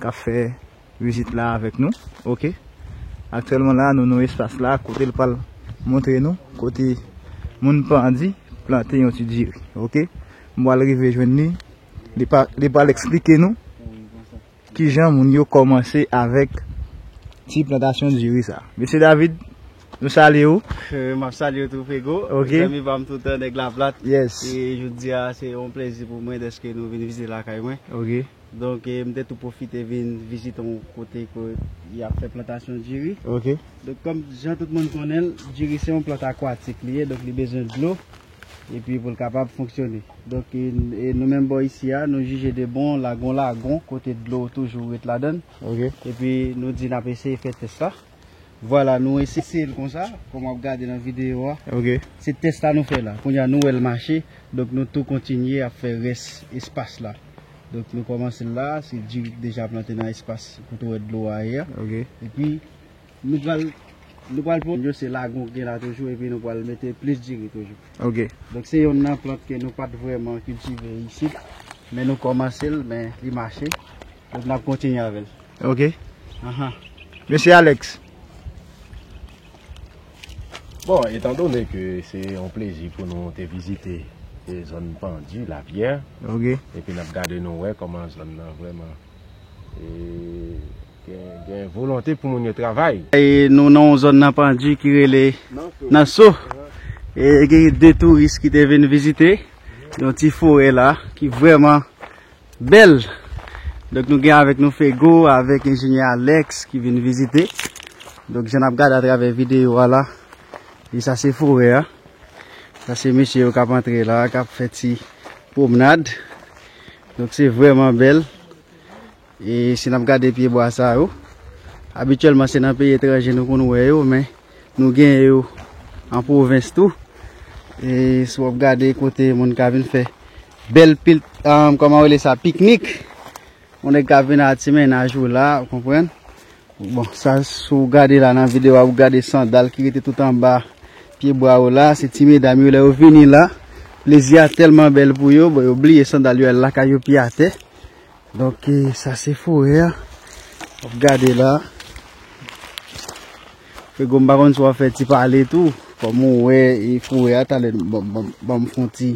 kap fè vizit la avèk nou ok aktyèlman la nou nan espas la kote li pral montre nou kote moun pandi plante yon ti diri ok m pral rive jwenn li li pral eksplike nou kijan moun yo kòmanse avèk ti plantasyon diri sa mesye David nou salye ou m ap salye ou tou frego zanmi pa m toutan nèg laplat e jodia se yon plezi pou mwen dèske nou vin vizite lakay mwen. Donk m te tou pwofite vin vizite yon kote ke y ap fè plantasyon diri. Donk kòm jan tout moun konnen l, diri se yon plant akwatik li ye, donk li bezwen dlo epi pou l kapab fonksyone. Donk e nou menm bò isi a, nou jije de bon lage yon lagon kote dlo toujou ret ladan l. Epi nou di n ap eseye fè tès la. Vwala nou eseseye l konsa kòm wap gade nan videyo a. Ok. Se tès la nou fè la. Kounya nou wè l mache. Donk nou tou kontinye ap fè rès espas la. Donk nou kòmanse l la. Se di deja plante nan espas kote ou wè dlo a ye a. Ok. Epi nou pral nou pral pran yo se lagon ki gen la toujou epi nou pral mete plis diri toujou. Ok. Donk se yonn nan plant ke nou pat vrèman kiltive isit. Men nou kòmanse l men li mache. Donk nap kontinye avèl. Ok. Mesi Alex. Bon, etan done ke se yon plezi pou nou te vizite zòn Pandy, Lapyè. Ok. Epi nap gade nou wè koman zòn nan vreman gen volonte pou moun yo travay. Nou nan yon zòn nan Pandy ki rele Nanso. E gen de touris ki te vin vizite yon ti forè la ki vreman. Bèl! Donk nou gen avèk nou Fego avèk enjenyè Alex ki vin vizite. Donk jan nap gade atravè videyo a la, e sa se forè a. Sa se mesye yo kap antre la, kap fè ti pwomnad. Donk se vrèman bèl. E si nap gade pye bwa sa yo, abityèlman se nan peyi etranje nou konn wè yo, men nou gen yo an pwovens tou. E si wap gade kote moun ka vin fè Bèl pil ahh kòman yo rele sa piknik yon nèg ka vin a ti mennaj ou la ou konprann bon sa si w gade la nan videyo a ou gade sandal ki rete tout anba pye bwa yo la se ti medam yo lè yo vini la plezi a tèlman bèl pou yo bon yo bliye sandal yo al lakay yo pye atè donk sa se forè a wap gade la frego m pa konn si wap fè ti pale tou kòm ou wè forè a talè banm fon ti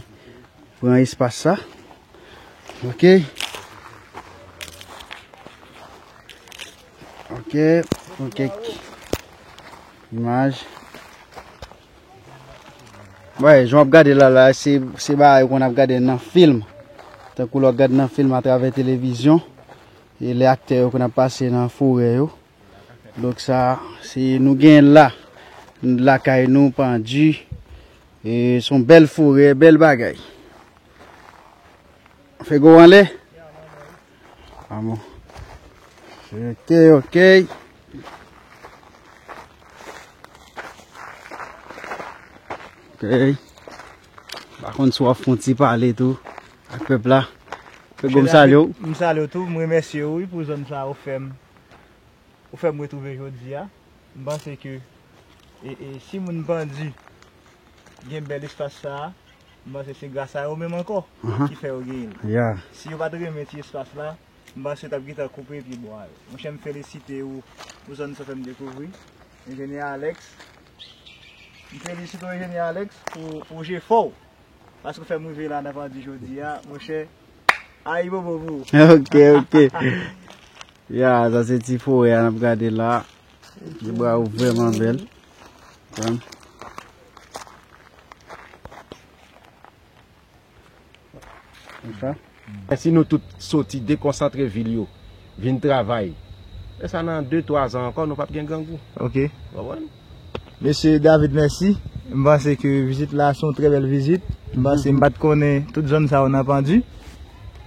Pran espas sa. Ok. Ok. Pran kek imaj. Wè, joun ap gade la la, se ba a yon kon ap gade nan film. Tan kou lò gade nan film a travè televizyon. E le akte yo kon ap pase nan foure yo. Donk sa se nou gen la lakay nou pandu e son bèl forè bèl bagay fè gò anlè amou ok ok ok pa konn sou ap fonti pale tou ak pèp la fè gò m salye w m salye w tou m remèsye w wi pou zòn sa ou fèm. ou fèm retrouve jodi a, m panse ke si moun pandi gen bèl espas sa, m panse se gras a yo menm ankò ki fè yo genyen l, si yo pat renmen ti espas la, m panse yo tap gentan koupe pye bwa yo. Monchè m felisite ou pou zòn sa ou fèm dekouvri enjenyè Alex, m felisite ou enjenyè Alex pou jefò ou paske ou fèm rive la nan pandi jodi a monchè. Ayibobo pou ou. Ok, ok. Ya, sa se ti fowe an ap gade la. Ti bwa ou vreman bel. Pranm. Konsa. E si nou tout soti dekonsantre vil yo, vin travay. E sa nan 2, 3 zan ankon nou pap gen grangou. Ok. Ou wè? Mesye David mèsi, m panse ke vizit la se yon trè bèl vizit, m panse m pat konnen tout zòn sa yo nan Pandy,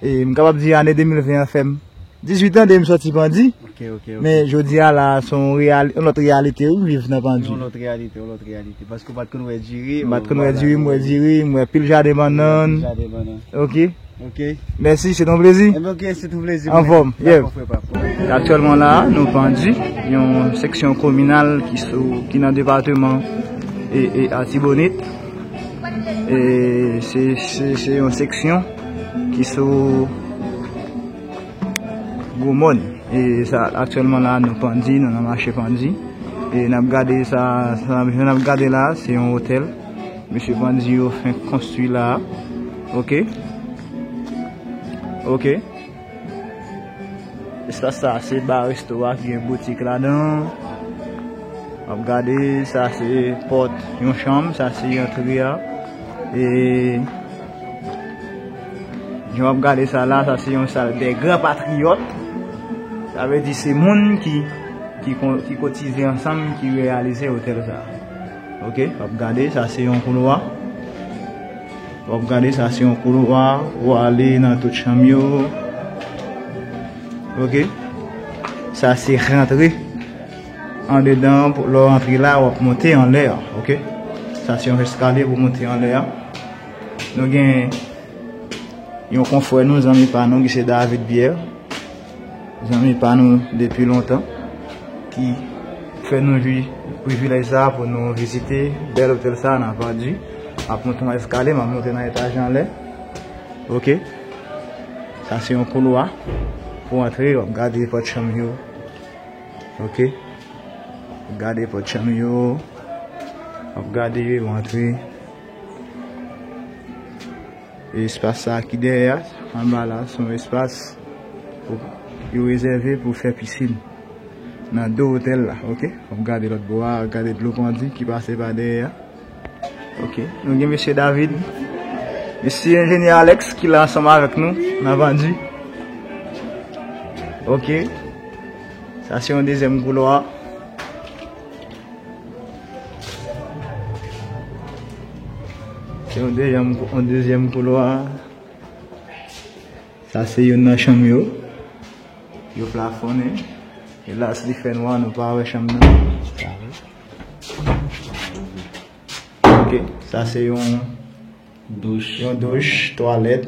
e m kapab di ane 2020 an fè m 18 an depi m sòti Pandy, men jodi a la se yon lòt reyalite wi m viv nan Pandy. Yon lòt reyalite, yon lòt reyalite, paske w pat konn wè diri, m pat konn wè diri, m wè diri, m wè pil jaden bannann, ok. Ok. Mèsi, se ton plezi. Enben ok, se ton plezi. Anfòm. Yè. Dako frè pam. Aktyèlman la a, nou Pandy, yon seksyon kominal ki sou, ki nan depateman e Artibonite. E se, se, se yon seksyon ki sou Gwo Mòn. E sa, aktyèlman la a, nou Pandy, nou nan mache Pandy. E n ap gade sa, sa n ap, sa n ap gade la a, se yon otèl. Mesye bandi yo fenk konstwi la a ok ok espas sa a se ba resto a ki gen boutik ladan an wap gade sa a se pòt yon chanm sa a se antre a e jan wap gade sa la sa a se yon sal dè gran patriyòt sa vle di se moun ki kotize ansanm ki reyalize otèl sa a. Ok wap gade sa se yon koulwa wap gade sa se yon koulwa ou ale nan tout chanm yo ok sa se rantre andedan pou lò antre la wap monte anlè ok sa se yon eskalye pou monte anlè nou gen yon konfwè nou zanmi pa nou ki se David Pierre Zanmi pa nou depi lontan ki fè nou jwi privilèj sa a pou nou vizite bèl otèl sa a nan Vardy. M ap monte yon eskale, m ap monte nan etaj anlè. Ok. Sa se yon koulwa pou antre. W ap gade pòt chanm yo. Ok. W ap gade pòt chanm yo. W ap gade, w antre. Espas sa ki dèyè a, anba la, se yon espas yo rezève pou fè pisin. Nan do otèl la, ok. Ou ap gade lòt bò a, ou ap gade dlo pandye ki pase pa dèyè a. Ok, nou gen mesye David. Mesi enjenyè Alex ki la ansanm avèk nou nan pandye. Ok, sa se yon dezyèm koulwa. Se yon dezyèm koulwa. Sa se yon nan chanm yo. Yo plafone. E la si li fè nwa nou pa wè chanm nan. Sa se yon douch, yon douch, twalèt.